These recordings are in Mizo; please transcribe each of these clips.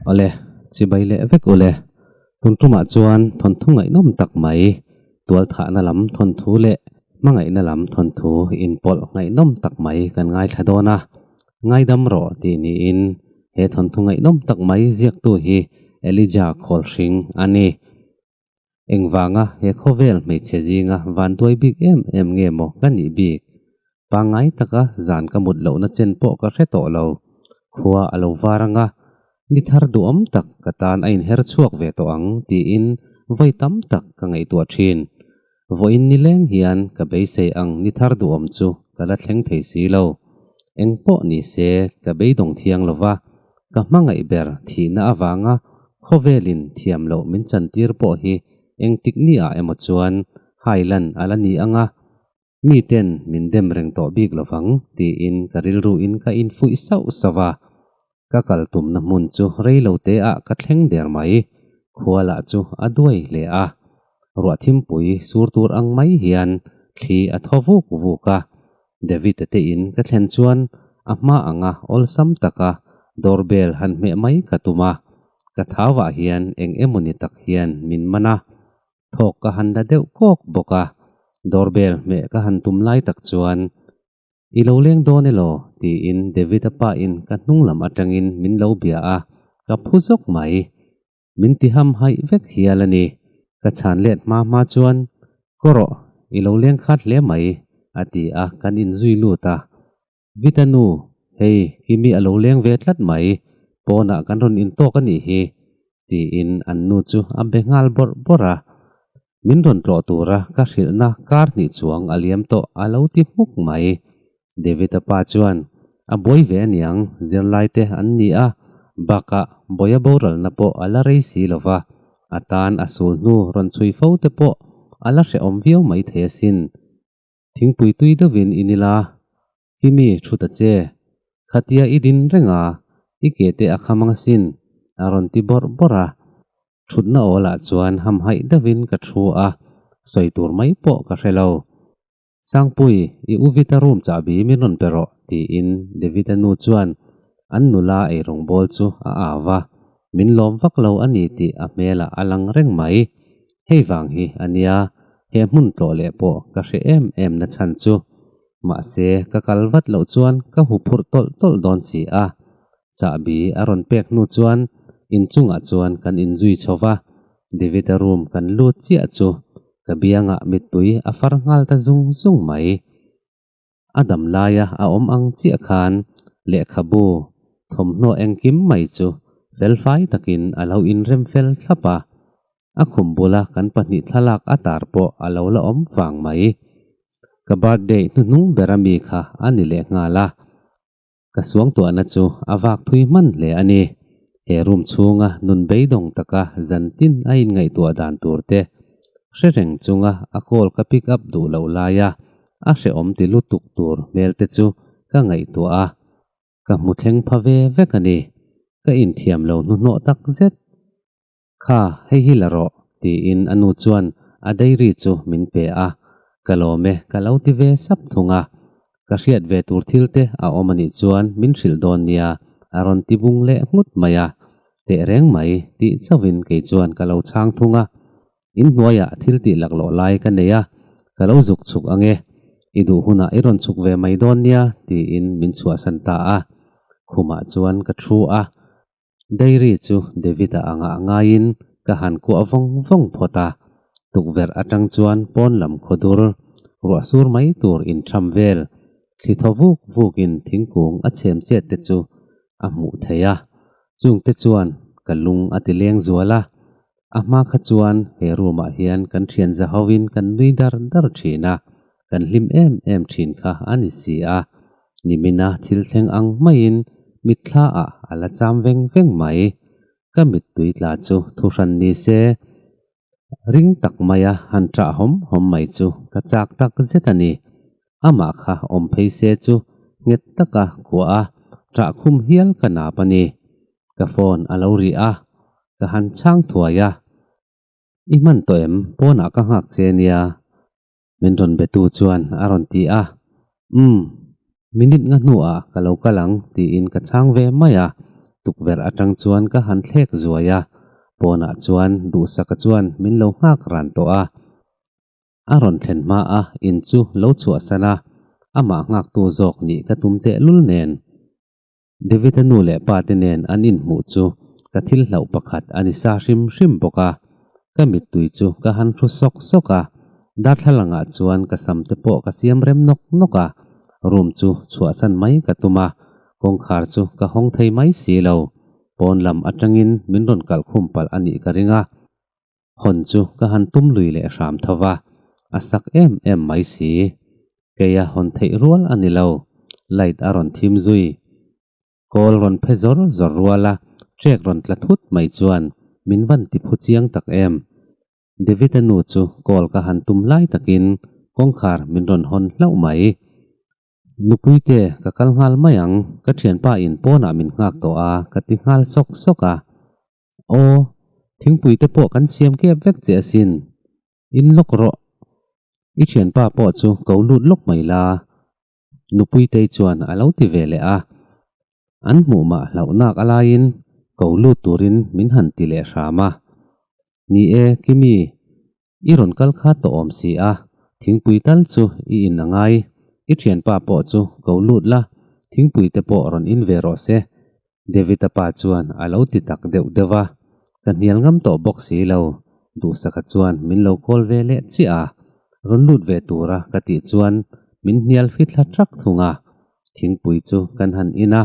Awle, chibai leh vek u le. Tun tumah chuan thawnthu ngaihnawm tak mai, tualthahna lam thawnthu leh hmangaihna lam thawnthu inpawlh ngaihnawm tak mai kan ngaithla dawn a. Ngaidam rawh tih niin he thawnthu ngaihnawm tak mai ziaktu hi Elijah Khawlhring a ni. Engvanga he khawvel hmeichhe zinga vanduai bik em em nge maw ka nih bik? Pangngai taka zan ka mut lohna chen pawh ka hre tawh lo. Khua a lo var anga ni thar duhawm tak ka tan a inher chhuak ve tawh ang tiin vawi tam tak ka ngaihtuah thin. vawiin nileng hian ka beisei ang ni thar duh awm chu ka la thleng thei si lo. Engpawh ni se ka beidawng thiang lo va, ka hmangaih ber thihna avanga khawvelin thiam loh min chantir pawh hi engtik ni ah emaw chuan hai lan a la ni ang a, mi ten min dem reng tawh bik lo vang tiin ka rilru in ka infuih sauh sauh a. ka kal tumna hmun chu reilo te ah ka thleng der mai, khua lah chu a duai hle a, ruah thimpui sur tur ang mai hian thli a thaw vuk vuk a, David-a te in ka thlen chuan a hma anga awlsam taka door bell han hmeh mai ka tum a, ka thau ah hian eng emaw ni tak hian min man a, thawk ka han la deuh kawk bawk a, door bell hmeh ka han tum lai tak chuan I lo leng dawn elaw? tiin Davida pain ka hnunglam atangin min lo bia a, ka phu zawk mai. Min ti hamhaih vek hial a ni. Ka chhan let hma hma chuan, Ka rawh, i lo leng khat hle mai, a ti a kan inzui lut a. Vita nu, hei Kimi a lo leng ve tlat mai, pawnah kan rawn in tawk a nih hi, tiin an nu chu a be nghal bawrh bawrh a. Min rawn tlawh tura ka hrilhna kar hnih chuang a liam tawh a lo ti hmuk mai. David-a pa chuan, A buai ve a niang, zirlaite an ni a, bakah buaia boralna pawh a la rei si lo va, a tan a sul hnu rawn chhui fo te pawh a la hrehawm viau mai thei asin. Thingpui tui deuhin in ila Hi mi thu ta che, khatia i din reng a, i ke te a kham anga sin, a rawn ti bawrh bawrh a. Thutna awl ah chuan hamhaih deuh in ka thu a, sawi tur mai pawh ka hre lo. Sangpuii, i u Vita room chahbi min rawn pe rawh, tiin Devita nu chuan an nula ei rawngbawl chu a au a, min lawm vak lo a ni tih a hmel ah a lang reng mai. Hei vang hi a nia, he hmun tlawh leh pawh ka hre em em nachhan chu. Mahse, ka kal vat loh chuan ka hu phurh tawlh tawlh dawn si a. Chahbi a rawn pek hnu chuan in chungah chuan kan in zui chho va, David-a room kan lut chiah chu ka bianga mittui a far nghal ta zung zung mai. A dam laia a awm ang chiah khan lehkhabu thawmhnaw engkim mai chu felfai takin a lo inrem fel thlap a. a khum bula kan pahnih thlalak a tar pawh a lo la awm fang mai. Ka birthday hnuhnung ber a mi kha a ni leh nghal a, ka suangtuahna chu a vak thui hman hle a ni. He room chhunga nun beidawng taka zan tin a inngaihtuah dan tur te hre reng chunga a call ka pick up duh loh laia a hrehawm ti lutuk tur hmel te chu ka ngaihtuah a, ka hmu thleng pha ve vek a ni. Ka inthiam lo hnuhnawh tak zet. Kha, hei hi la rawh, tiin a nu chuan a diary chu min pe a, ka lawm e, ka lo ti ve sap thung a. Ka hriat ve tur thil te a awm a nih chuan min hrilh dawn nia, a rawn ti bung leh nghut mai a. Teh reng mai, tih chauhin kei chuan ka lo chhang thung a. In hnuaiah thil tih laklawh lai ka nei a, ka lo zuk chhuk ange, i duh hunah i rawn chhuk ve mai dawn nia, tiin min chhuahsan ta a. Khumah chuan ka thu a, Dairy chu David-a a ngah ngaiin ka han kuah vawng vawng phawt a. Tukverh atang chuan pawn lam khaw dur, ruah sur mai tur inṭham vel, thli thaw vuk vukin thingkung a chhemchet te chu a hmuh theih a. Chungte chuan ka lung a ti leng zual a, A hma kha chuan he room ah hian kan thian za ho in kan nui dar dar thin a, kan hlim em em thin kha a ni si a. Nimina thil thleng ang mai in mitthla ah a la cham veng veng mai. Ka mittui tla chu thu hran ni se ring tak mai a han tah hawm hawm mai chu ka chak tak zet a ni. amah kha awm phei se chu nghet taka kuah a ṭah khum hial ka nap a ni. Ka phone a lo rih a, ka han chhang thuai a, I hman tawh em? Pawnah ka nghak che nia min rawn be tu chuan a rawn ti a, Umm, minute nga hnuah ka lo kal ang tiin ka chhang ve mai a, tukverh aṭang chuan ka han thlek zuai a, pawnah chuan duhsaka chuan min lo nghak ran tawh a, a rawn thlen hma a in chu lo chhuahsan a, amah nghaktu zawk nih ka tum tehlul nen. David-a nu leh pate nen an inhmuh chu ka thil hlauh pakhat a ni sa hrim hrim bawk a, ka mittui chu ka han hru sawk sawk a, darthlalangah chuan ka sam te pawh ka siam rem nawk nawk a, room chu chhuahsan mai ka tum a, kawngkhar chu ka hawng thei mai si lo, pawn lam atangin min rawn kalh khum palh a nih ka ring a. hawn chu ka han tum lui leh hram tho va, a sak em em mai si. Kei a hawn theih rual a ni lo, light a rawn thim zui, kawl rawn phe zawr zawr rual a, track rawn tla thut mai chuan min van ti phu chiang tak em. David-a nu chu call ka han tum lai takin kawngkhar min rawn hawn hlauh mai. Nupuite ka kal nghal mai ang, ka thianpa in pawnah min nghak tawh a ka ti nghal sawk sawk a. Aw, thingpui te pawh kan siam kep vek che asin. In lawk rawh. I thianpa pawh chu ko lut lawk mai la, Nupuitei chuan a lo ti ve leh a. An hmuh mah hlauhnak a laiin ko lut turin min han ti leh hram a. Ni e, Kimi, I rawn kal kha tawh awm si a, thingpui tal chu i in a ngai. I thianpa pawh chu ko lut la, thingpui te pawh rawn in ve rawh se. David-a pa chuan a lo ti tak deuh deuh a, Ka hnial ngam tawh bawk si lo, duhsakha chuan min lo call ve leh chiah a, rawn lut ve tura ka tih chuan min hnial fi thla ṭak thung a, thingpui chu kan han in a.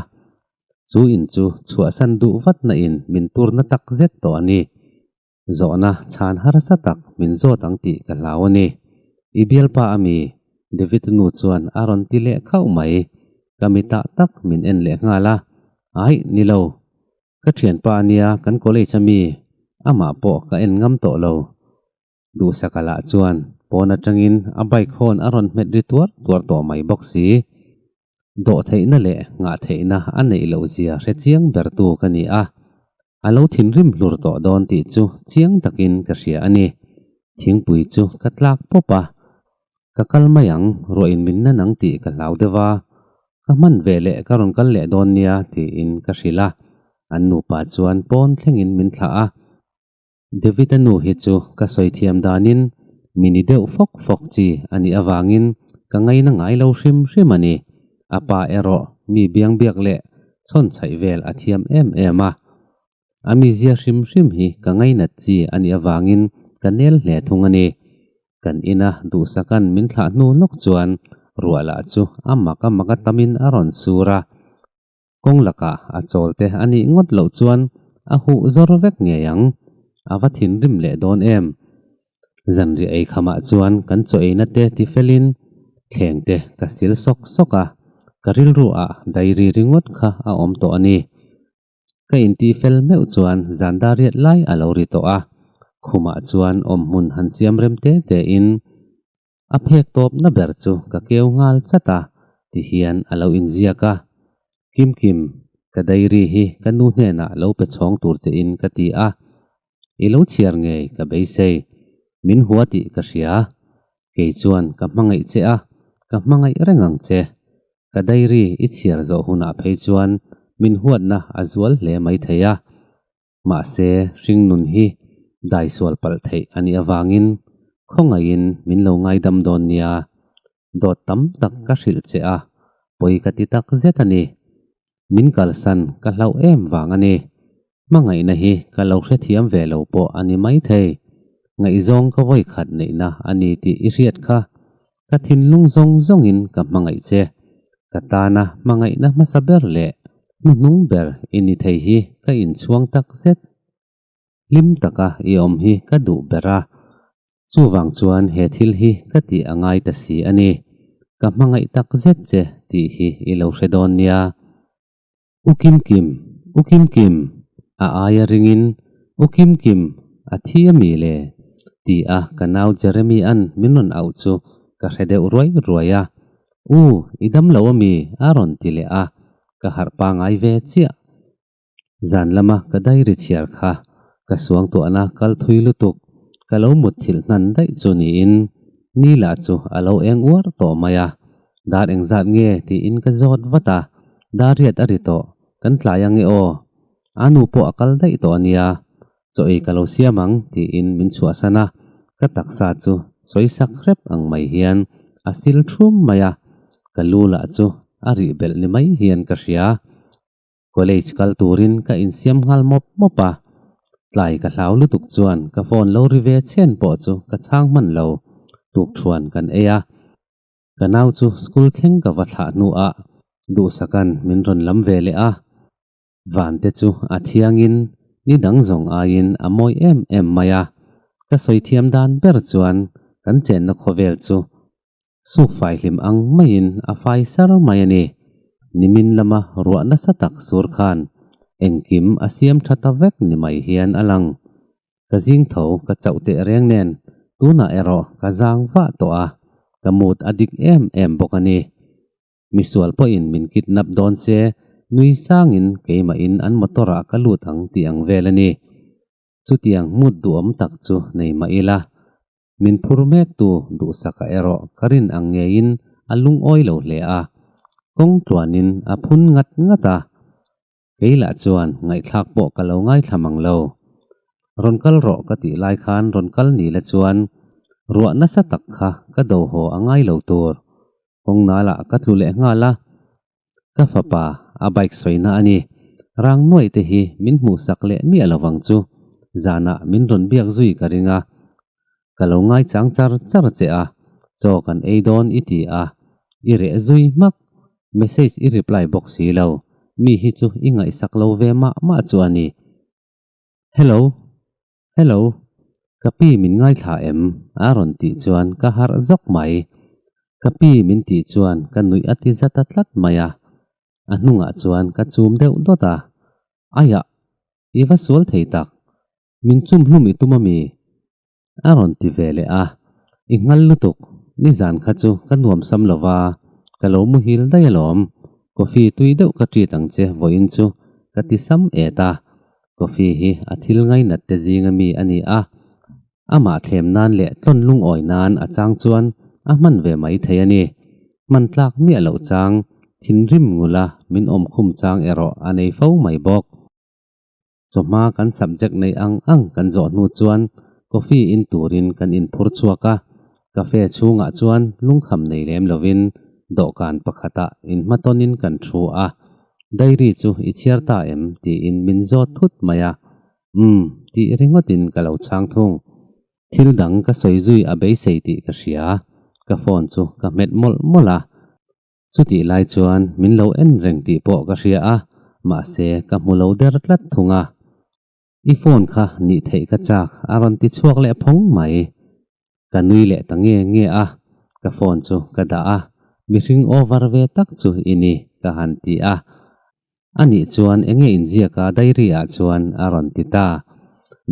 Chu in chu chhuahsan duh vatna in min turna tak zet tawh a ni. Zawhna chhan harsa tak min zawt ang tih ka hlau a ni. I bialpa a mi, David nu chuan a rawn ti leh khauh mai. Ka mi tah tak min en leh nghal a, Ai, ni lo. Ka thianpa nia kan college a mi, amah pawh ka en ngam tawh lo. Duhsaka lah chuan pawn atangin a bike hawn a rawn hmet ri tuar tuar tawh mai bawk si. dawh theihna leh ngah theihna a neih loh zia hre chiang bertu ka ni a, a lo thinrim hlur tawh dawn tih chu chiang takin ka hria a ni. Thingpui chu ka tlak pawp a, ka kal mai ang, ruahinminna nang tih ka hlau deuh a, ka hman ve leh ka rawn kal leh dawn nia tiin ka hrilh a, an nupa chuan pawn thlengin min thlah a. Davida nu hi chu ka sawi thiam danin mi ni deuh fawk fawk chi a nih avangin ka ngaina ngai lo hrim hrim a ni. A pa erawh mi biang biak leh chhawnchhaih vel a thiam em em a. A mizia hrim hrim hi ka ngainat chi a nih avangin ka nel hle thung a ni. Kan ina duhsakan min thlah hnu lawk chuan ruah lah chu a mak a mak a tamin a rawn sur a. kawng laka a chawlte a nih ngawt loh chuan a huh zawr vek ngei ang, a va thinrim leh dawn em. Zanri eikhamah chuan kan chaw eina te ti felhin thleng te ka sil sawk sawk a, ka rilru ah diary ringawt kha a awm tawh a ni. Ka intih fel meuh chuan zan dariat lai a lo ri tawh a, khumah chuan awm hmun han siam rem te tein a phek tawpna ber chu ka keu nghal chat a ti hian a lo inziak a. Kimkim, ka diary hi ka nu hnenah lo pe chhawng tur che in ka ti a, i lo chhiar ngei ka beisei, min hua tih ka hria. Kei chuan ka hmangaih che a, ka hmangaih reng ang che. Ka diary i chhiar zawh hunah phei chuan min huatna a zual hle mai thei a. Mahse, hringnun hi daisual palh theih a nih avangin khawngaihin min lo ngaidam dawn nia. Dawt tam tak ka hrilh che a, pawi ka ti tak zet a ni. Min kalsan ka hlauh em vang a ni. Hmangaihna hi ka lo hrethiam ve lo pawh a ni maithei. Ngaihzawng ka vawi khat neihna a ni tih i hriat kha ka thinlung zawng zawngin ka hmangaih che. Ka tana hmangaihna hmasa ber leh hnuhnung ber i ni thei hi ka inchhuang tak zet. Hlim taka i awm hi ka duh ber a, chuvang chuan he thil hi ka tih a ngai ta si a ni. Ka hmangaih tak zet che tih hi i lo hre dawn nia. U Kim Kim! U Kim Kim! a aia ringin, U Kim Kim! a thi a mi le? tih a ka nau Jeremy-a'n min rawn auh chu ka hre deuh ruai ruai a. U, i dam lo a mi a rawn ti leh a, ka harh pangai ve chiah. Zan lama ka diary chhiar kha ka suangtuahna kal thui lutuk ka lo mutthilh hnan daih chu niin Neil-a chu a lo eng uar tawh mai a, Dar engzat nge? tiin ka zawt vat a, Dariat a ri tawh, kan tlai ange aw, aa nu pawh a kal daih tawh a nia, chaw ei ka lo siam ang tiin min chhuahsan a, ka taksa chu sawi sak hrep ang mai hian a sil thum mai a, ka lu lah chu a rih belh ni mai hian ka hria, college kal turin ka insiam nghal mawp mawp a, tlai ka hlau lutuk chuan ka phone lo ri ve chhian pawh chu ka chhang hman lo, tuk thuan kan ei a. Ka nau chu school thleng ka va thlah hnuah duhsakan min rawn lam ve leh a. Vante chu a thiangin ni dang zawng aiin a mawi em em mai a. Ka sawi thiam dan ber chuan kan chenna khawvel chu suk fai hlim ang maiin a fai ser mai a ni. Nimin lama ruah nasa tak sur khan engkim a siam tha ta vek ni mai hian a lang. ka zing tho ka chauh teh reng nen tunah erawh ka zang vah tawh a, ka mood a dik em em bawk a ni. Misual pawhin min kidnap dawn se, nui sangin keimahin an motor ah ka lut ang tih ang vel a ni. Chutiang mood duhawm tak chu nei mah ila, min phur mek tu duhsakah erawh ka rin ang ngeiin a lungawi lo hle a, kawng tluanin a phun ngat ngat a. kei lah chuan ngaihthlak pawh ka lo ngaithlam ang lo. Rawn kal rawh ka tih lai khan rawn kal ni la chuan ruah nasa tak kha ka do haw a ngai lo tur kawng nal ah ka tlu leh nghal a. Ka fapa a bike sawina a ni, rang nuai te hi min hmuh sak leh miah lo vang chu zan ah min rawn biak zui ka ring a. ka lo ngaichang char char che a, chaw kan ei dawn i ti a, i reh zui hmak, message i reply bawk si lo, mi hi chu i ngaihsak lo ve mah mah chu a ni. Hello, hello, ka pi min ngaithla em? a rawn tih chuan ka harh zawk mai. Ka pi min tih chuan ka nuih a ti zat a tlat mai a, a hnungah chuan ka chum deuh dawt a, aiah, i va sual thei tak, min chum hlum i tum a mi? A rawn ti ve leh a, i nghal lutuk, nizan kha chu ka nuamsam lo va, ka lo muhil daih alawm, coffee tui deuh ka treat ang che vawiin chu ka ti sam et a, coffee hi a thil ngai nat te zinga mi a ni a, amah thlem nan leh tlawn lungawi nan a chang chuan a hman ve mai thei a ni, hman tlak miah loh chang, thinrim ngula min awm khum chang erawh a nei fo mai bawk. Chawhma kan subject nei ang ang kan zawh hnu chuan coffee in turin kan inphur chhuak a, cafe chhungah chuan lungkham nei lem lovin dawhkan pakhatah inhmatonin kan thu a. Diary chu i chhiar ta em tiin min zawt thut mai a. Umm tih ringawtin ka lo chhang thung. Thil dang ka sawi zui a beisei tih ka hria. Ka phone chu ka hmet mawlh mawlh a. Chutih lai chuan min lo en reng tih pawh ka hria a, mahse ka hmu lo der tlat thung a. I phone kha nih theih ka chak a rawn ti chhuak leh phawng mai. Ka nui leh ta nge nge a, ka phone chu ka dah a, mihring over ve tak chu i ni ka han ti a. A nih chuan eng nge inziak a diary ah chuan a rawn ti ta.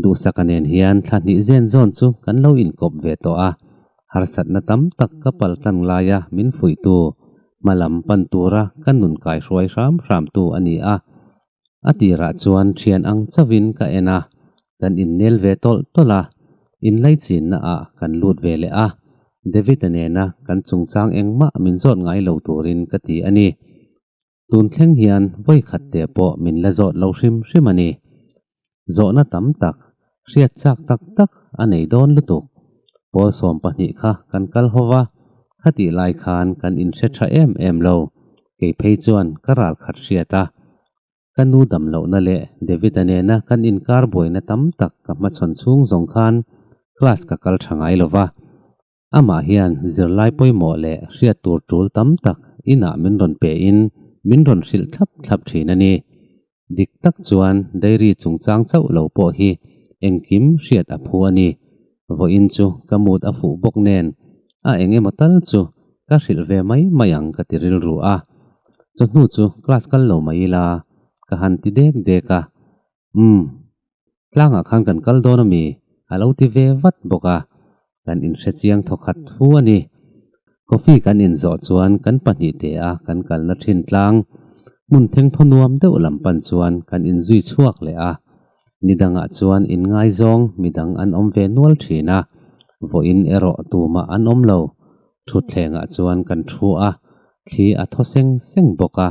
Duhsaka nen hian thla hnih zen zawn chu kan lo inkawp ve tawh a, harsatna tam tak ka pal tlang laia min fuihtu, hma lam pan tura ka nun kai hruai hram hram tu a ni a. A tirah chuan thian ang chauhin ka en a, kan innel ve tawlh tawlh a, in lei chinna ah kan lut ve leh a. David-a nena kan chungchang engmah min zawt ngai lo turin ka ti a ni. tun thleng hian vawi khat teh pawh min la zawt lo hrim hrim a ni. Zawhna tam tak, hriat chak tak tak a nei dawn lutuk. Pawl sawm pahnih kha kan kal ho va, khatih lai khan kan in hre tha em em lo. Kei phei chuan ka ral khat hriat a, ka nu dam lohna leh David-a nena kan inkar buaina tam tak ka hmachhawn chhung zawng khan class ka kal tha ngai lo va. Amah hian zirlai pawimawh leh hriat tur tul tam tak inah min rawn pe in min rawn hrilh thlap thlap thin a ni. Dik tak chuan dairy chungchang chauh lo pawh hi engkim hriat a phu a ni. Vawiin chu ka mood a fuh bawk nen a eng emaw tal chu ka hrilh ve mai mai ang ka ti rilru a. Chawhnu chu class kal lo mai ila ka han ti dek dek a. Umm. Tlangah khan kan kal dawn a mi, a lo ti ve vat bawk a, kan inhrechiang thaw khat thu a ni. Coffee kan inzawh chuan kan pahnih te a kan kalna thin tlang. Hmun thengthaw nuam deuh lam pan chuan kan inzui chhuak leh a. Ni dangah chuan in ngaizawng midang an awm ve nual thin a, vawiin erawh tumah an awm lo, thutthlengah chuan kan thu a, thli a thaw seng seng bawk a.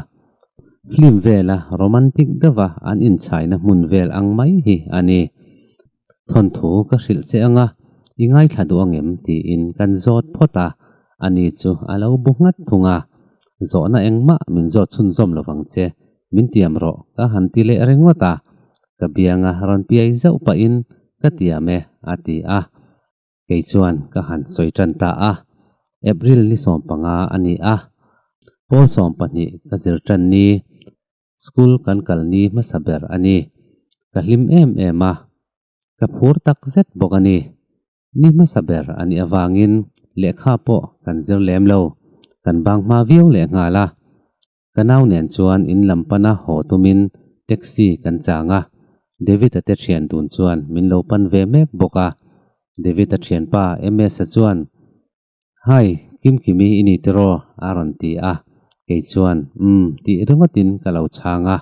Film vela romantic deuha an inchhaina hmun vel ang mai hi a ni. Thawnthu ka hrilh che anga i ngaithla duh ang em tiin kan zawt phawt a, a ni chu a lo bu nghat thung a. Zawhna engmah min zawt chhunzawm lovang che, min tiam rawh ka han ti leh ringawt a, ka bianga rawn piai zauh pahin ka tiam e, a ti a. kei chuan ka han sawi tan ta a, April ni sawm panga a ni a, Pawl sawm pahnih ka zir tan ni, school kan kal ni hmasa ber a ni. Ka hlim em em a, ka phur tak zet bawk a ni. Ni hmasa ber a nih avangin lehkha pawh kan zir lem lo, kan bang hma viau leh nghal a. Ka nau nen chuan in lam pana haw tumin taxi kan chang a, David-a te thian dun chuan min lo pan ve mek bawk a. David-a thianpa Ms-a chuan, Hi, Kimkimi i ni tiraw? a rawn ti a, kei chuan, Um, tih ringawtin ka lo chhang a.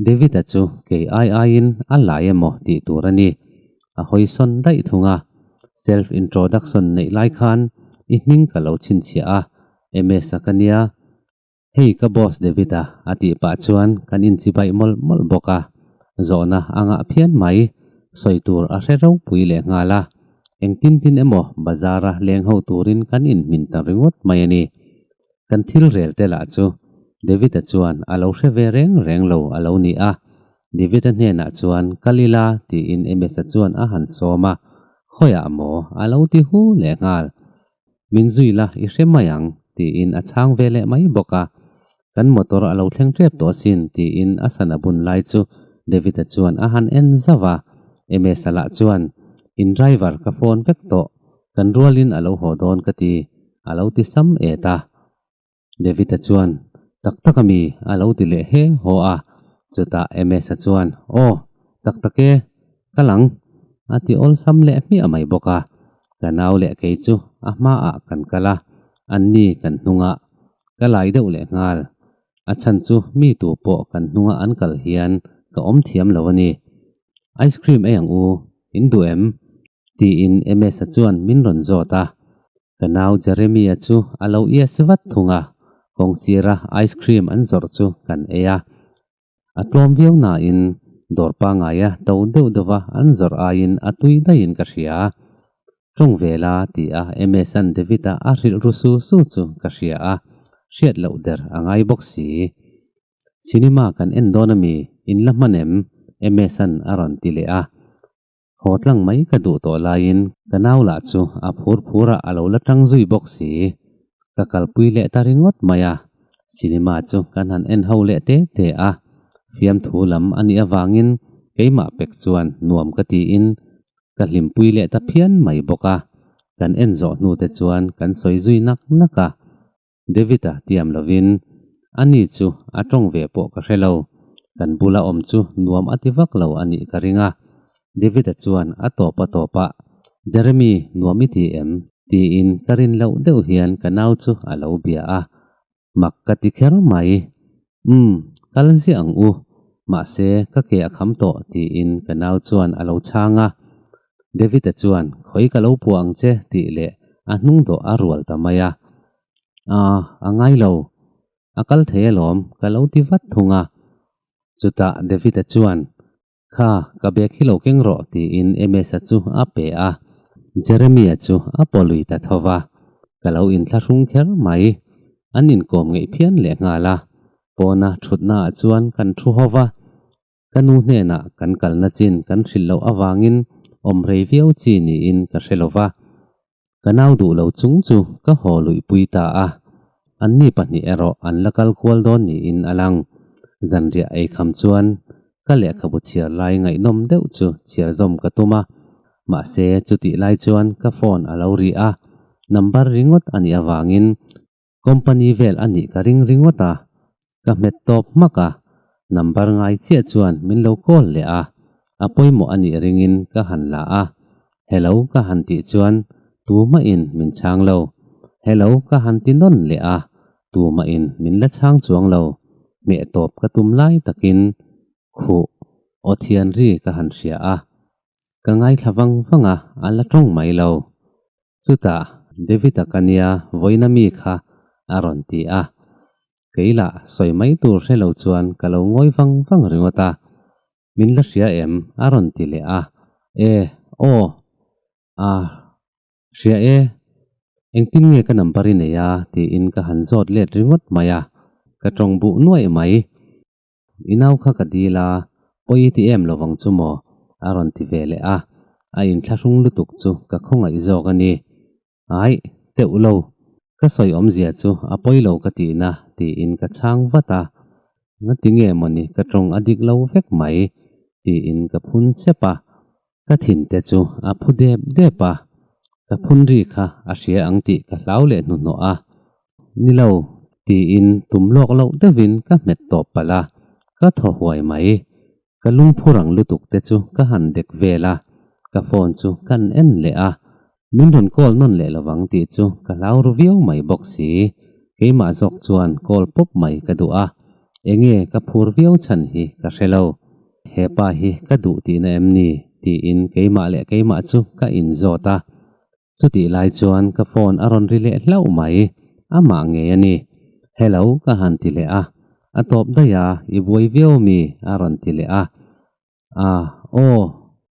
Davida chu kei ai aiin a lai emaw tih tur a ni. A hawisawn daih thung a, Self introduction neih lai khan i hming ka lo chhinchhiah a, MS a ka nia. Hei ka boss Davida a tih pah chuan kan inchibai mawlh mawlh bawk a, zawhna a ngah phian mai, sawi tur a hre ropui leh nghal a, engtin tin emaw bazar a leng ho turin kan inhmin ta ringawt mai a ni. Kan thilrel te lah chu David-a chuan a lo hre ve reng reng lo a lo ni a. David-a hnenah chuan ka li la tiin Emesa chuan a han sawm a, Khawiah maw? a lo ti hu leh nghal. Min zui la, i hre mai ang, tiin a chhang ve leh mai bawk a. Kan motor a lo thleng tep tawh sin, tiin a sana bun lai chu David-a chuan a han en zauh a. Emesa lah chuan, In driver ka phone vek tawh, kan rualin a lo haw dawn ka ti, a lo ti sam et a. David-a chuan, Tak tak a mi, a lo ti leh hê haw a. Chutah Amos-a chuan, Aw, tak tak e, ka lang, a ti awlsam leh hmiah mai bawk a. Ka nau leh kei chu a hmaah kan kal a, anni kan hnungah ka lai deuh leh nghal. A chhan chu mi tu pawh kan hnunga an kal hian ka awm thiam lo a ni. Ice cream ei ang u, in duh em? Tiin Emesa chuan min rawn zawt a. Ka nau Jeremy-a chu a lo ia si vat thung a, kawng sira ice cream an zawrh chu kan ei a. A tlawm viau nain dawr pangaia to deuh deuha an zawrh aiin a tui daihin ka hria. Tawng ve la, ti a Emesa-n David-a a rilru su su chu ka hria a, hriat loh der a ngai bawk si. Cinema kan en dawn a mi, in la hman em? Emesa-n a rawn ti leh a. Haw tlang mai ka duh tawh laiin ka nau lah chu a phur phurah a lo la tang zui bawk si. Ka kalpui leh ta ringawt mai a, cinema chu kan han en ho leh te te a. Fiamthu lam a nih avangin keimah pek chuan nuam ka tiin ka hlimpui leh ta phian mai bawk a. Kan en zawh hnute chuan kan sawi zui nak nak a. David a tiam lovin, A ni chu a tawng ve pawh ka hre lo, kan bula awm chu nuam a ti vak lo a nih ka ring a. David a chuan a tawp a tawp a, Jeremy, nuam i ti em? tiin ka rin loh deuh hian ka nau chu a lo bia a, mak ka ti kher mai. Umm, kal ziah ang u, mahse ka ke a kham tawh, tiin ka nau chuan a lo chhang a. David-a chuan, Khawi ka lo puah ang che, tih leh a hnung dawh a rual ta mai a. Aah, a ngai lo, a kal thei alawm, ka lo ti vat thung a. Chutah David-a chuan, Kha, ka biak hi lo keng rawh, tiin Emesa chu a pe a. Jeremia chu a pawlui ta tho va, ka lo inthlahrung kher mai. An inkawm ngeihthian leh nghal a, pawna thutnaah chuan kan thu haw va. Ka nu hnenah kan kalna chin kan hrilh loh avangin awm rei viau chi niin ka hre lo va. Ka nau duh lo chung chu ka haw luih pui ta a, anni pahnih erawh an la kal kual dawn niin a lang. Zanriah ei kham chuan ka lehkhabu chhiar lai ngaihnawm deuh chu chhiarzawm ka tum a, mahse chutih lai chuan ka phone a lo ri a, number ringawt a nih avangin company vel a nih ka ring ringawt a, ka hmet tawp hmak a, number ngai chiah chuan min lo call leh a, a pawimawh a nih ringin ka han la a, hello ka han tih chuan tumahin min chhang lo, hello ka han ti nawn leh a, tumahin min la chhang chuang lo, hmeh tawp ka tum lai takin khuh aw thianri ka han hria a, ka ngaithla vang vang a, a la tawng mai lo, Chutah Davida ka nia vawiina mi kha a rawn ti a, kei lah sawi mai tur hre lo chuan ka lo ngawi vang vang ringawt a, min la hria em? a rawn ti leh a, e, aw, a hria e, engtin nge ka number i nei a tiin ka han zawt let ringawt mai a, ka tawng buh nuaih mai. I nau kha ka dil a, pawi i ti em lo vang chu maw? a rawn ti ve leh a, a inthlahrung lutuk chu ka khawngaih zawk a ni. Aih, teuh lo, ka sawi awmzia chu a pawi lo ka ti na, tiin ka chhang vat a. Ngatinge mawni ka tawng a dik lo vek mai, tiin ka phun sep a. Ka thin te chu a phu dep dep a, ka phunri kha a hria ang tih ka hlau leh hnuhnawh a, ni lo tiin tum lawk loh deuhin ka hmet tawp palh a, ka thaw huai mai. Ka lungphur ang lutuk te chu ka han dek vel a, ka phone chu kan en leh a, Min rawn call nawn leh lo vang tih chu ka hlau ru viau mai bawk si. Keimah zawk chuan call pawp mai ka duh a, enge ka phur viau chhan hi ka hre lo. He pa hi ka duh tihna em ni? tiin keimah leh keimah chu ka in zawt a. Chutih lai chuan ka phone a rawn ri leh hlauh mai. Amah ngei a ni. Hello ka han ti leh a. A tawp daih a, i buai viau mi? a rawn ti leh a. Ah, aw,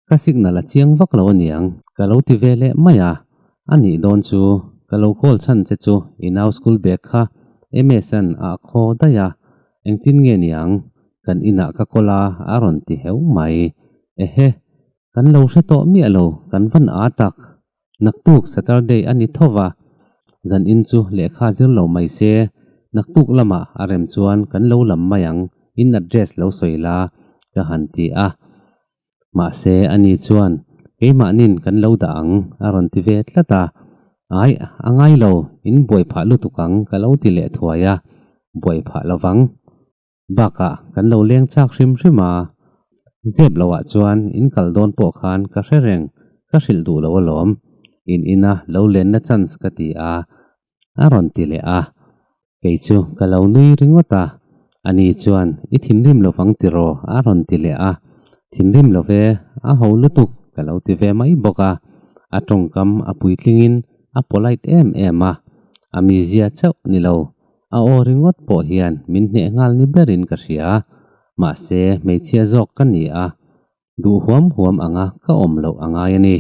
ka signal a chiang vak lo aniang. Ka lo ti ve leh mai a, a nih dawn chu ka lo call chhan che chu i nau school bag kha msn ah a khaw daih a, engtin nge niang kan inah ka call a a rawn ti heu mai. Ehe, kan lo hre tawh miah lo, kan van a tak. Naktuk Saturday a ni tho va, zan in chu lehkha zir lo mai se, naktuk lama a rem chuan kan lo lam mai ang, in address lo sawi la ka han ti a. Mahse a ni chuan keimahnin kan lo dah ang a rawn ti ve tlat a. Aih, a ngai lo, in buai phah lutuk ang ka lo ti leh thuai a, buai phah lo vang. Bakah kan lo leng chak hrim hrim a, zep lo ah chuan in kal dawn pawh khan ka hre reng, ka hrilh duh lo alawm, in in a lo lenna chance ka ti a, a rawn ti leh a, kei chu ka lo nui ringawt a, a ni chuan i thinrim lo vang tiraw a rawn ti leh a, thinrim lo ve, a ho lutuk ka lo ti ve mai bawk a, a tawngkam a puitling in a polite em em a, a mizia chauh ni lo. a aw ringawt pawh hian min hneh nghal ni berin ka hria. Mahse, hmeichhia zawk ka ni a, duh huam huam anga ka awm loh a ngai a ni.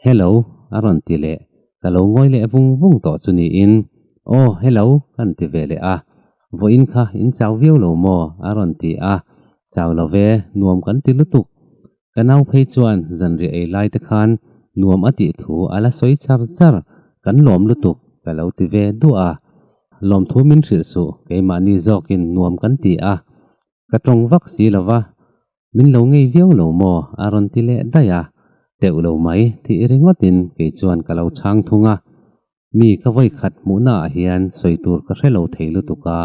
Hello, a rawn ti leh ka lo ngawi leh vung vung tawh chu niin, Aw, hello, kan ti ve leh a. Vawiin kha in chau viau lo maw? a rawn ti a, Chau lo ve, nuam kan ti lutuk. Ka nau phei chuan zanriah ei lai te khan nuam a tih thu a la sawi char char, kan lawm lutuk ka lo ti ve duah a. Lawm thu min hrilh suh, keimahni zawkin nuam kan ti a, ka tawng vak si lo va, min lo ngei viau lo maw a rawn ti leh daih a, teuh lo mai tih ringawtin kei chuan ka lo chhang thung a. Mi ka vawikhat hmuhnaah hian sawi tur ka hre lo thei lutuk a,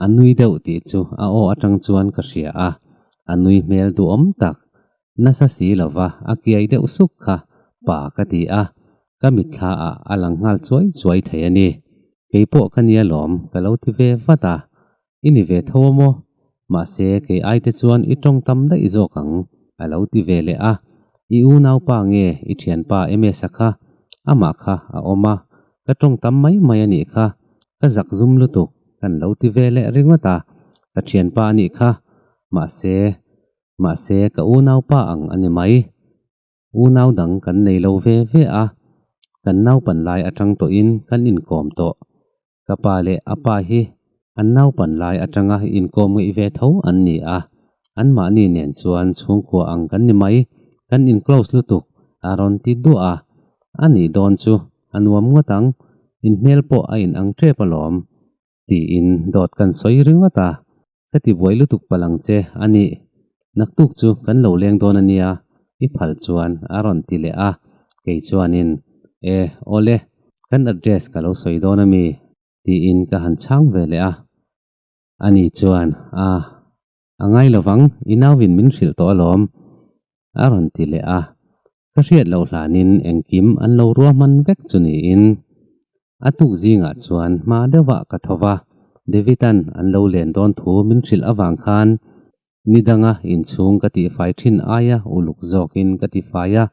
a nui deuh tih chu a aw atang chuan ka hria a, a nui hmel duhawm tak. Nasa si lova a kiai deuh suk kha pa ka ti a, ka mitthlaah a lang nghal chuai chuai thei a ni. Keipawh ka nia lawm ka lo ti ve vat a, I ni ve tho a maw? Mahse kei aite chuan i tawng tam daih zawk ang, a lo ti ve leh a. I unaupa nge i thianpa Emesa kha? Amah kha a awm a, ka tawng tam mai mai a nih kha, ka zak zum lutuk kan lo ti ve leh ringawt a, ka thianpa a nih kha. Mahse, mahse ka unaupa ang a ni mai. Unau dang kan nei lo ve ve a, kan naupan lai atang tawhin kan inkawm tawh. Ka pa leh a pa hi an naupan lai atanga inkawm ngeih ve tho an ni a, anmahni nen chuan chhungkua ang kan ni mai, kan in-close lutuk a rawn ti duah a. A nih dawn chu a nuam ngawt ang, inhmel pawh a inang tep alawm. tiin dawt kan sawi ringawt a, ka ti buai lutuk palang che a nih. Naktuk chu kan lo leng dawn ania i phal chuan a rawn ti leh a, kei chuanin, E, aw le, kan address ka lo sawi dawn ami, tiin ka han chhang ve leh a. Ani chuan, Aa, A ngai lo vang, i nauin min hrilh tawh alawm, a rawn ti leh a. Ka hriat loh hlanin engkim an lo rua hman vek chu niin a tuk zingah chuan hma deuhah ka tho va, David-a'n an lo len dawn thu min hrilh avang khan ni danga inchhung ka tihfai thin aia uluk zawkin ka ti fai a,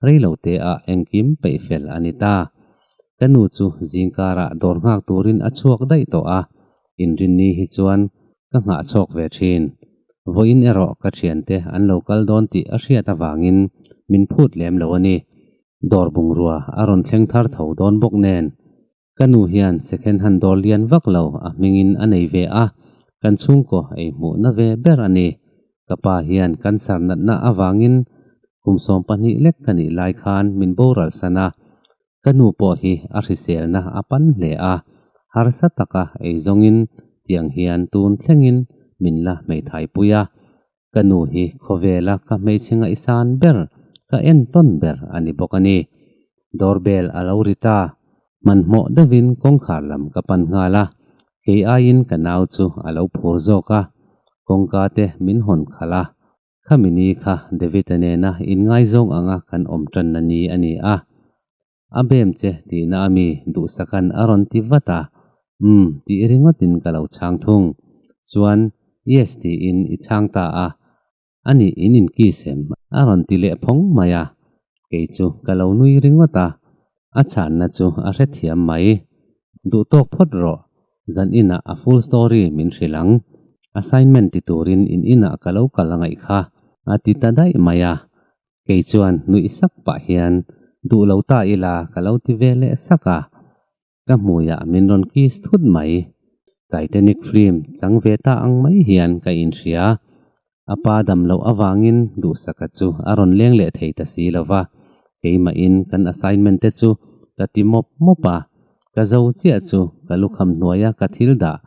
rei lo te ah engkim peih fel a ni ta. Ka nu chu zingkarah dawr nghak turin a chhuak daih tawh a, inrinni hi chuan ka nghah chhawk ve thin. Vawiin erawh ka thiante an lo kal dawn tih a hriat avangin min phut lem lo a ni. Dawr bungrua a rawn thleng thar tho dawn bawk nen ka nu hian second hand dawr lian vak lo a hmingin a nei ve a, kan chhungkaw ei hmuhna ve ber a ni. Ka pa hian kan sar natna avangin kum sawm pahnih lek ka nih lai khan min boral san a, Ka nu pawh hi a hriselna a pan hle a, harsa taka ei zawngin tiang hian tun thlengin min la hmeithaipuih a. Ka nu hi khawvela ka hmeichhe ngaihsan ber, ka en tawn ber a ni bawk a ni. Doorbell a lo rit a, hmanhmawh deuhin kawngkhar lam ka pan nghal a, kei aiin ka nau chu a lo phur zawk a, kawngka te min hawn khalh a, Khami ni kha David-a nena in ngaizawng anga kan awm tanna ni a ni a, a bem che tihna a mi duhsakan a rawn ti vat a, Umm tih ringawtin ka lo chhang thung. Chuan, Yes tiin i chhang ta a, a nih in inkisem a rawn ti leh phawng mai a, kei chu ka lo nui ringawt a, A chhanna chu a hrethiam mai. Duhtawk phawt rawh. Zan inah a full story min hrilh ang. Assignment ti turin in inah ka lo kal ngaih kha, a ti ta daih mai a. Kei chuan nuih sak pah hian, Duh lo ta ila ka lo ti ve leh sak a. Ka hmuiah min rawn kiss thut mai. Titanic film chang ve ta ang mai hian ka inhria. a pa dam loh avangin duhsaka chu a rawn leng leh thei ta si lova, keimahin kan assignment te chu ka ti mawp mawp a, ka zo chiah chu ka lukham hnuaia ka thil dah,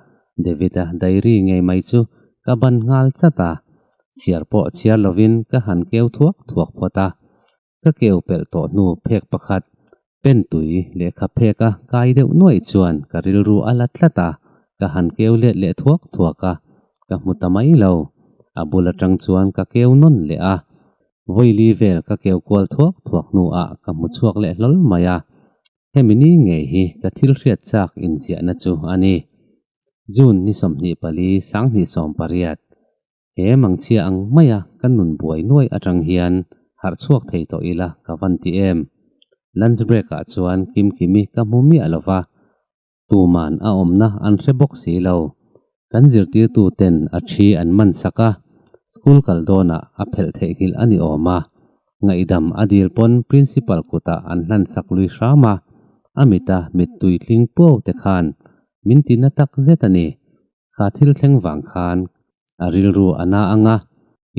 David-a diary ngei mai chu ka ban nghal chat a, chhiar pawh chhiar lovin ka han keu thuak thuak phawt a, ka keu pelh tawh hnu phek pakhat pen tui lehkha phek a kai deuh nuaih chuan ka rilru a la tlat a, ka han keu let leh thuak thuak a, ka hmu ta mai lo. A bul atang chuan ka keu nawn leh a, vawili vel ka keu kual thuak thuak hnuah ka hmu chhuak leh hlawl mai a, hemi ni ngei hi ka thil hriat chak inziahna chu a ni. June ni sawmhnih pali, Sanghnih sawm pariat. He mangchhia ang maia kan nun buai nuai atang hian harh chhuak thei tawh ila ka van ti em. Lunch break ah chuan Kim Kimi ka hmu miah lo va, tuman a awmna an hre bawk si lo. Kan zirtirtu ten a thi an man sak a, school kal dawnah a phelh theihnghilh a ni awm a, ngaihdam a dil pawn principal kutah an hlansak lui hram a, a mita mittui tling puau te khan min ti na tak zet a ni, kha thil thleng vang khan a rilru a na ang a,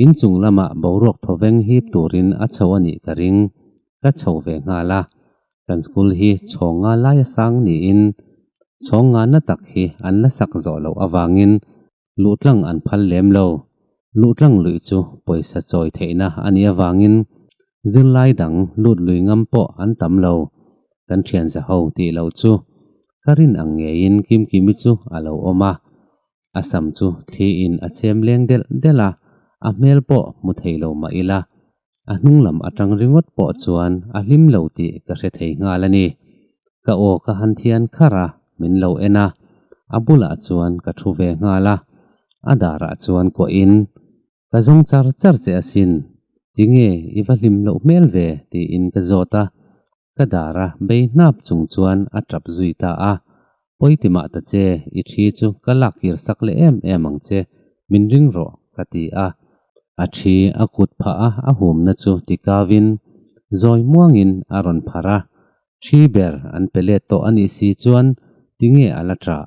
in chung lamah boruak thawveng hip turin a chho a nih ka ring, ka chho ve nghal a. Kan school hi chhawng nga laia sang niin chhawng nga na tak hi an la sak zawh loh avangin luh tlang an phal lem lo. Luh tlang luih chu pawisa chawi theihna a nih avangin zirlai dang lut lui ngam pawh an tam lo, kan thian za ho tih loh chu ka rin ang ngeiin Kimkimi chu a lo awm a, a sam chu thli in a chem leng delh delh a, a hmel pawh hmu thei lo mah ila, a hnung lam atang ringawt pawh chuan a hlim lo tih ka hre thei nghal a ni. Ka aw ka han thian khar a, min lo en a, a bulah chuan ka thu ve nghal a, a darah chuan kuahin Ka zawng char char che asin, tinge i va hlim loh hmel ve? tiin ka zawt a, ka dar a bei hnap chung chuan a tap zui ta a, Pawiti mah ta che, i thi chu ka lak kir sak leh em em ang che, min ring rawh, ka ti a. A thi a kut phah a, a humna chu ti kau in zawi muang in a rawn pharh a, thi ber an pe let tawh a nih si chuan tinge a la tah?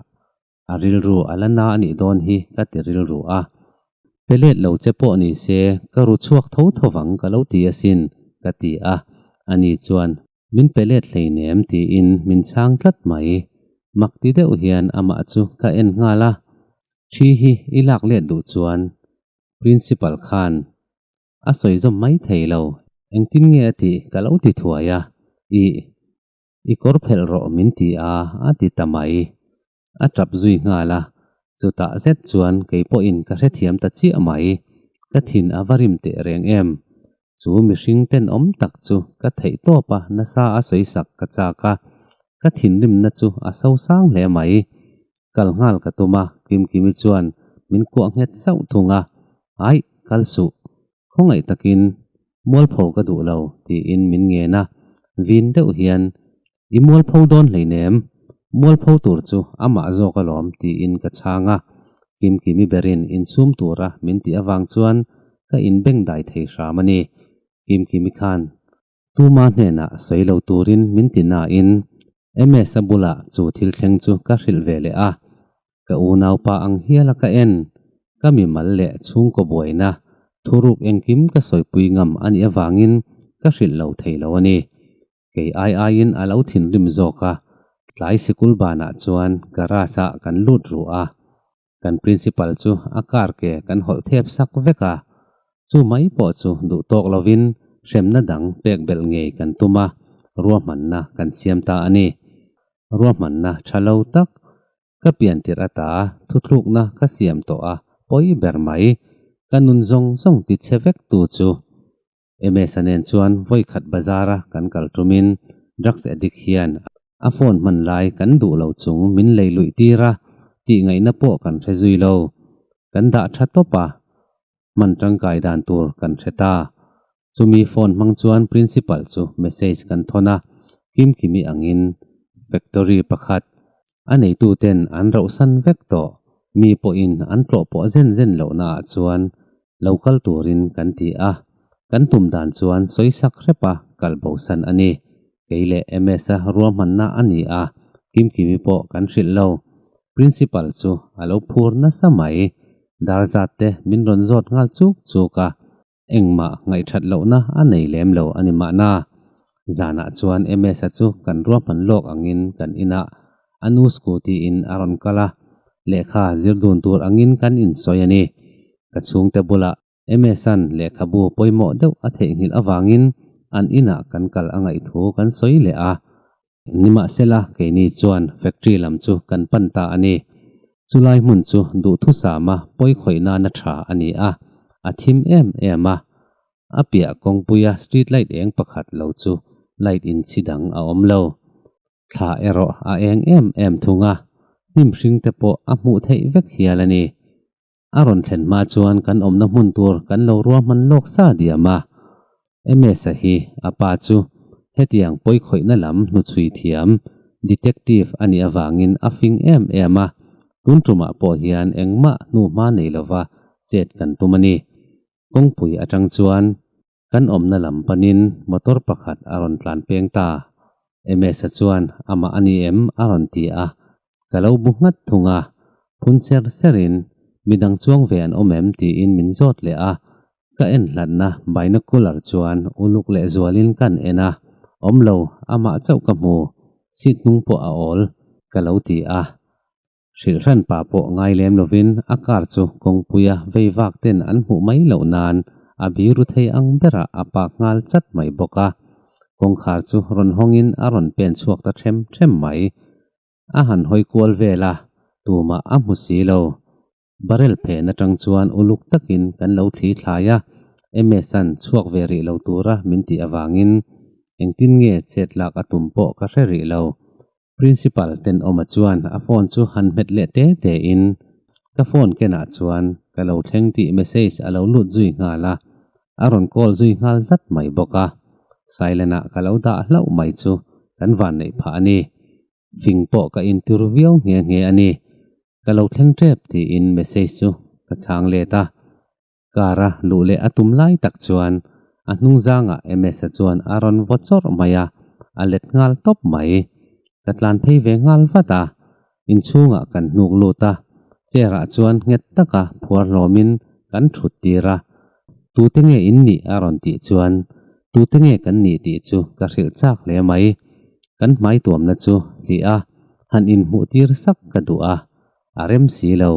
a rilru a la na a nih dawn hi ka ti rilru a, pe let lo che pawh ni se ka ru chhuak tho tho vang ka lo ti asin ka ti a, a ni chuan min pe let hleinem tiin min chhang tlat mai, mak ti deuh hian amah chu ka en nghal a, thi hi i lak let duh chuan Principal khan a sawi zawm mai thei lo, engtin nge a tih ka lo ti thuai a, ih i kawr phelh rawh min ti a, a ti ta mai. A tap zui nghal a, chutah zet chuan kei pawhin ka hrethiam ta chiah mai. Ka thin a va rim teh reng em? Chu mihring ten awm tak chu ka theih tawp a, nasa a sawisak ka chak a, ka thinrimna chu a so sang hle mai. Kal nghal ka tum a, Kimkimi chuan min kuah nghet sauh thung a, Aih, kal suh, Khawngaih takin, Mualpho ka duh lo, tiin min ngen a, vin deuh hian, I mualpho dawn hleinem, mualpho tur chu amah zawk alawm, tiin ka chhang a. Kim Kimi berin insum tura min tih avang chuan ka inbengdai thei hram a ni. Kim Kimi khan Tuma hnena sawi lo turin min ti nain MS a bula chu thil thleng chu ka hrilh ve leh a, ka unaupa ang hiala ka en, ka mimal leh chhungkaw buaina thuruk engkim ka sawipui ngam a nih avangin ka hrilh lo thei lo a ni. Kei ai aiin a lo thinrim zawk a, tlai sikul banah chuan garage-ah kan lut ruh a, kan principal chu a kar ke kan hawlh thep sak vek a, chu mai pawh chu duh tawk lovin hremna dang pek belh ngei kan tum a, ruahmanna kan siam ta a ni. Ruahmanna tha lo tak ka pian tirh ata thuthlukna ka siam tawh a pawi ber mai, ka nun zawng zawng ti che vek tu chu Msa nen chuan vawikhat bazar a kan kal tum in drugs addict hian a phone hman lai kan duh lo chung min lei luih tir a, tih ngaih na pawh kan hre zui lo. Kan dah tha tawp a, hman tangkai dan tur kan hre ta. Chumi phone hmang chuan principal chu message kan thawn a, kimkimi ang in factory pakhat a neitu ten an rauhsan vek tawh, mi pawh in an tlawh pawh zen zen lohna ah chuan lo kal turin kan ti a, kan tum dan chuan sawi sak hrepa kal bosan a ni. Kei leh MS-a ruahmanna a ni a, kimkimi pawh kan hrilh lo. Principal chu a lo phur nasa mai. Dar zat te min rawn zawt nghal chuk chuk a, engmah ngaihthat lohna a nei lem lo a ni mahna. Zanah chuan MS-a chu kan ruahman lawk angin kan inah a nu scooty in a rawn kal a lehkha zir dun tur angin kan insawi a ni ka chhungte bulah Amazon lehkhabu pawimawh deuh a theihnghilh avangin an inah kan kal a ngaih thu kan sawi leh a nimahsela keini chuan factory lam chu kan pan ta a ni chulai hmun chu duhthusama pawi khawih nana tha a ni a a thim em em a a piah kawngpuia street light eng pakhat lo chu light inchhidang a awm lo Thla erawh a eng em em thung a, hnim hring te pawh a hmuh theih vek hial a ni. A rawn thlen hma chuan kan awmna hmun tur kan lo ruahman lawk sa diam a. Emesa hi a pa chu hetiang pawikhawihna lam hnuchhui thiam, detective, a nih avangin a fing em em a, tun tumah pawh hian engmah hnu hma nei lova chet kan tum a ni. Kawngpui atang chuan Kan awmna lam panin motor pakhat a rawn tlan peng ta. MS-a chuan, Amah a ni em? a rawn ti a. Ka lo bu nghat thung a, phun ser serin, Midang chuang ve an awm em? tiin min zawt leh a. Ka en hlatna binocular chuan uluk lehzualin kan en a, Awm lo, amah chauh ka hmu, seat hnung pawh a awl, ka lo ti a. Hrilhran pa pawh ngai lem lovin a car chu kawngpuia veivak ten an hmuh mai loh nan a bi ru thei ang berah a pak nghal chat mai bawk a. Kawngkhar chu rawn hawngin a rawn pen chhuak ta ṭhem ṭhem mai. A han hawi kual vel a, tumah a hmu si lo. Barrel phen aṭang chuan uluk takin kan lo thli thlai a, Emesan chhuak ve rih lo tura min tih avangin. Engtin nge chet lak a tum pawh ka hre rih lo. Principal ten awmah chuan a phone chu han hmet leh te te in ka phone kenah chuan ka lo thleng tih message a lo lut zui nghal a, a rawn call zui nghal zat mai bawk a. Silent ah ka lo dah hlauh mai chu kan vanneih phah a ni. Fing pawh ka in tur viau nghe nghe a ni. Ka lo thleng tep tiin message chu ka chhang let a. Car a luh leh a tum lai tak chuan a hnung zanga MS-a chuan a rawn vaw chawrh mai a, a let nghal tawp mai. Ka tlan phei ve nghal vat a, inchhungah kan hnuk lut a, chair-ah chuan nghet taka phuar hlawmin kan thut tir a. Tute nge in nih a rawn tih chuan tute nge kan nih tih chu ka hrilh chak hle mai. Kan hmai tuamna chu hliah a, han inhmuh tir sak ka duh a, a rem si lo.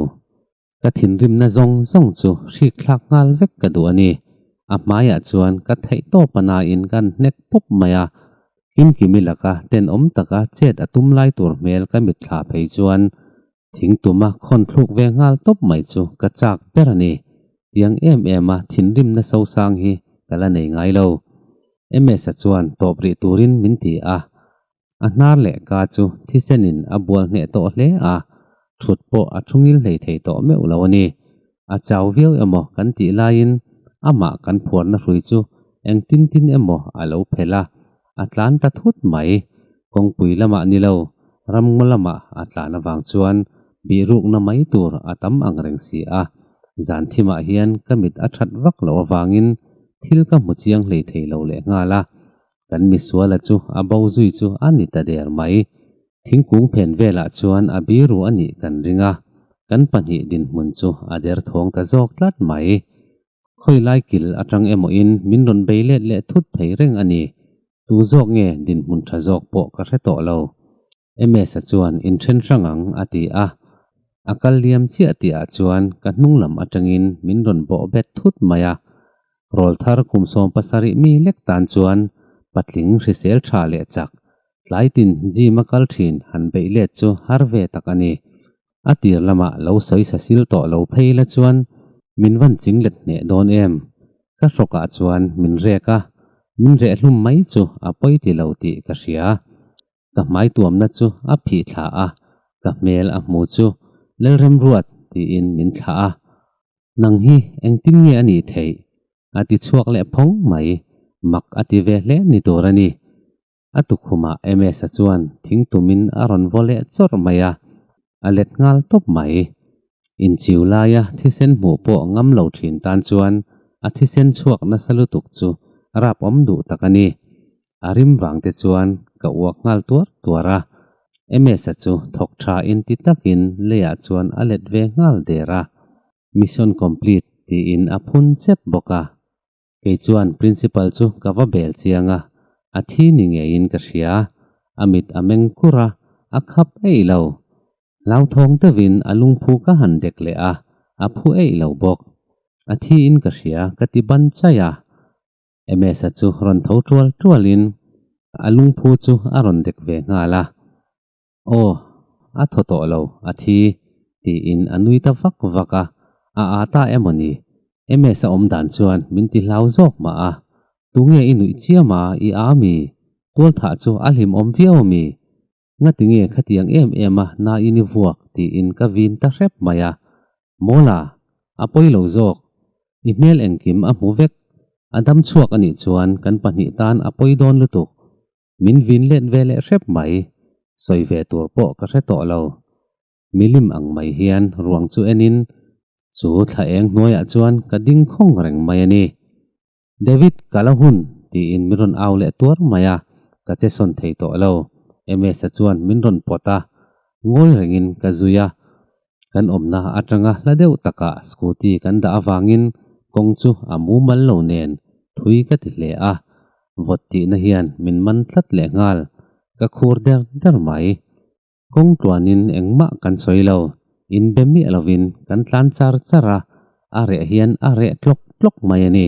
ka thinrimna zawng zawng chu hrikthlak nghal vek ka duh a ni. A hmaiah chuan ka theihtawp a nain kan hnek pawp mai a, kim kim i laka tenawm taka chet a tum lai tur hmel ka mitthla phei chuan thing tuma khawn thluk ve nghal tawp mai chu ka chak ber a ni. Tiang em em a thinrimna sosang hi ka la nei ngai lo. MS-a chuan tawp rih turin min ti a, A hnar leh ka chu thisenin a bual hneh tawh hle a, thut pawh a thungil hlei thei tawh meuh lo a ni. A chau viau emaw kan tih laiin amah kan phuarna hrui chu engtin tin emaw a lo phelh a, a tlan ta thut mai. Kawngpui lamah ni lo, ramngaw lamah a tlan avang chuan bihrukna mai tur a tam ang reng si a. Zanthimah hian ka mit a that vak loh avangin thil ka hmu chiang hlei thei lo lehnghal a, Kan misuala chu a bo zui chu a ni ta der mai. Thingkung phen velah chuan a biru a nih kan ring a, kan pahnih dinhmun chu a der thawng ta zawk tlat mai. Khawilai kil atang emawiin min rawn bei let leh thut thei reng a ni. Tu zawk nge dinhmun tha zawk pawh ka hre tawh lo. MS-a chuan in then hrang ang a ti a, a kal liam chiah tih ah chuan ka hnung lam atangin min rawn bawh bet thut mai a, rawl thar kum sawm pasarih mi lek tan chuan patling hrisel tha leh chak, tlai tin gym a kal thin han beih let chu har ve tak a ni. A tir lamah lo sawi sasil tawh lo phei la chuan min van ching let hneh dawn em? Ka hrawk ah chuan min rek a, min reh hlum mai chu a pawi ti lo tih ka hria. ka hmaituamna chu a phih thla a, ka hmel a hmu chu Lalrem ruat tiin min thlah a, nang hi engtin nge a nih theih? a ti chhuak leh phawng mai. Mak a ti ve hle ni tur a ni. A tukhumah MS-a chuan thing tumin a rawn vaw leh chawrh mai a, a let nghal tawp mai. Inchiu laia thisen hmuh pawh ngam lo thin tan chuan a thisen chhuak nasa lutuk chu rap awm duh tak a ni. A rim vangte chuan ka uak nghal tuar tuar a. MS-a chu thawk tha inti takin leiah chuan a let ve nghal der a. Mission complete tiin a phun sep bawk a. Kei chuan Principal chu ka va bel chiang a, a thi ni ngeiin ka hria. A mit a meng kur a, a khap eih lo. Hlauthawng deuhin a lungphu ka han dek leh a, a phu eih lo bawk. A thiin ka hria ka ti ban chai a. Emesa chu rawn tho tual tualin a lungphu chu a rawn dek ve nghal a. Aw, a thaw tawh lo a thi, tiin a nui ta vak vak a. A aa ta em aw ni? MS a awm dan chuan min ti hlau zawk mah a. Tunge i nuih chiam a, i aa mi? Tualthah chu a hlim awm viau mi? Ngatinge khatiang em em a na i ni vuak? tiin ka vin ta hrep mai a. Mawla, a pawi lo zawk. I hmel engkim a hmu vek. A dam chhuak a nih chuan kan pahnih tan a pawi dawn lutuk. min vinlen ve leh hrep mai, sawi ve tur pawh ka hre tawh lo. Milim ang mai hian ruang chu enin chu thla eng hnuaiah chuan ka ding khawng reng mai a ni. David ka la hun tiin min rawn au leh tuar mai a, ka che sawn thei tawh lo. MS-a chuan min rawn pawt a, ngawi rengin ka zui a, kan awmna atanga hla deuh takah scooty kan dah avangin kawng chu a mumal lo nen thui ka ti hle a, vawt tihna hian min man tlat leh nghal, ka khur der der mai. Kawng tluanin engmah kan sawi lo, in be miah lovin kan tlan char char a, a reh hian a reh tlawk tlawk mai a ni.